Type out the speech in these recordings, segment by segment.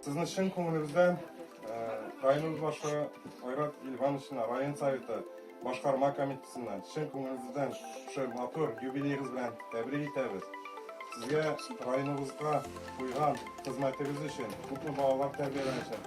Сезне чын күңелебездән районыбыз башлыгы Айрат Ильвановичына, район советы башкарма комитетыннан чын күңелебездән шушы матур юбилеегыз белән тәбрик итәбез. Сезгә районыбызга куйган хезмәтегез өчен, күпме балалар тәрбияләгән өчен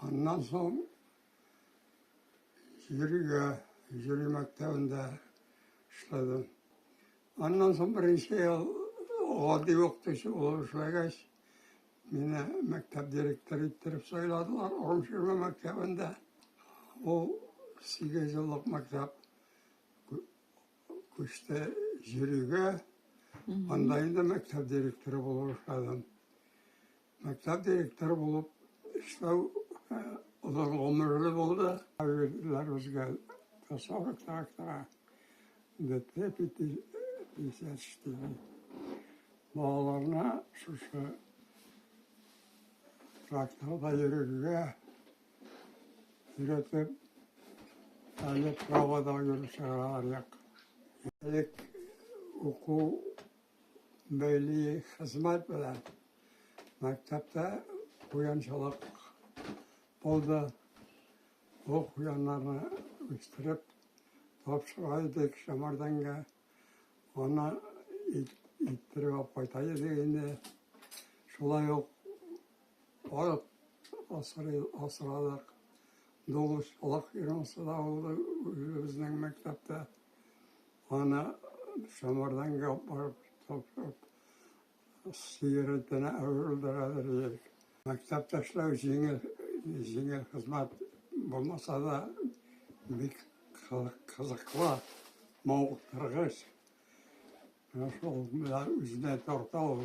Аннан соң жюрига, жюри мәктәбендә эшләдем. Аннан соң беренче ел гади укытучы булып эшләгәч, мине мәктәп директоры иттереп сайладылар Орымширма мәктәбендә. Ул сигез еллык мәктәп күчте жюрига. Анда инде мәктәп директоры булып эшләдем. Мәктәп директоры булып эшләү озын гомерле булды. Әбиләр үзгә тасавы трактора бетте, бетте, бетте, бетте. Балаларына шушы тракторда йөрергә өйрәтеп, әле правода йөрүчеләр як. Элек уку Милли хезмәт белән мәктәптә куянчылык булды. Бу куяннарны үстереп тапшыра идек Шәмәрдәнгә. Аны иттереп алып кайта идек инде. Шулай ук ат асрадык. Дуңгыз колак фирмасы да булды үзебезнең мәктәптә. Аны Самардан гап барып тапшырып, сыер итенә әверелде хәзер җирек. Мәктәптә эшләү җиңел, җиңел хезмәт булмаса да, бик кызыклы, мавыктыргыч. Менә шул үзенә тарта ул.